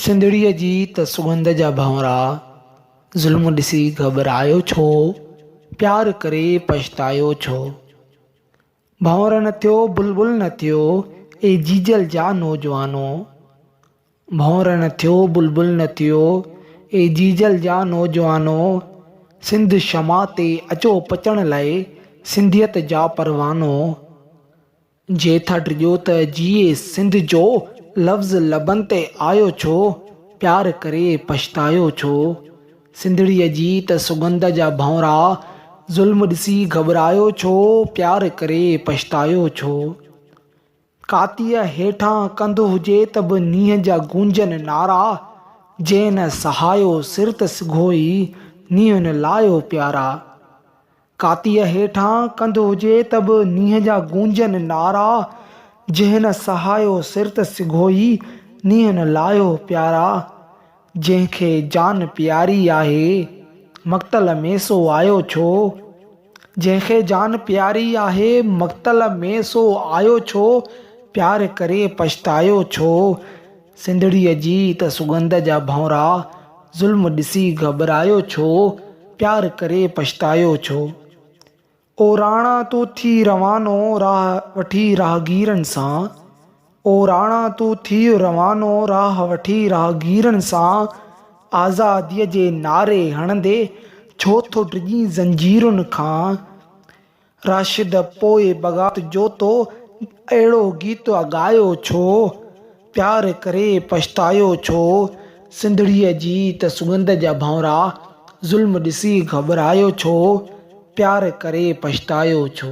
سنڌڙيء جي ته سڳنڌ جا ڀنورا، ظلم ڏسي گهٻرايو ڇو، پيار ڪري پڇتايو ڇو. ڀنور نه ٿيو بلبل نه ٿيو، اي جيجل جا نوجوانو. ڀنور نه ٿيو بلبل نه ٿيو، اي جيجل جا نوجوانو. سنڌ شمع تي اچو پچڻ لاء، سنڌيت جا پروانو. جي ٿا ڊڄو ته جيئي سنڌ جو لفظ لبن تي آيو ڇو پيار ڪري پڇتايو ڇو سنڌڙيء جي ته سڳنڌ جا ڀونرا ظلم ڏسي گهٻرايو ڇو پيار ڪري پڇتايو ڇو ڪاتيء هيٺان ڪنڌ هجي ته به نينهن جا گونجن نعرا جنهن نه سهايو سر ته سگهو ئي نينهن نه لايو پيارا. ڪاتيء هيٺان ڪنڌ هجي ته به نينهن جا گونجن نعرا، جنهن نه سهايو سر ته سگهو ئي نينهن نه لاهيو پيارا، جنهن کي جان پياري آهي، مقتل ۾ سو آيو ڇو؟ جنهن کي جان پياري آهي، مقتل ۾ سو آيو ڇو؟ پيار ڪري پڇتايو ڇو؟ سنڌڙيء جي ته سڳنڌ جا ڀونرا، ظلم ڏسي گهٻرايو ڇو، پيار ڪري پڇتايو ڇو. او راڻا تو ٿي روانو راهه وٺي راهگيرن سان، او راڻا تو ٿي روانو راهه وٺي راهگيرن سان، آزاديء جي نعري هڻندي ڇو ٿو ڊڄين زنجيرن کان. راشد پوء بغات جو تو اهڙو گيت ڳايو ڇو؟ پيار ڪري پڇتايو ڇو؟ سنڌڙيء جي ته سڳنڌ جا ڀانئرا، ظلم ڏسي گهٻرايو ڇو؟ پيار ڪري پڇتايو ڇو؟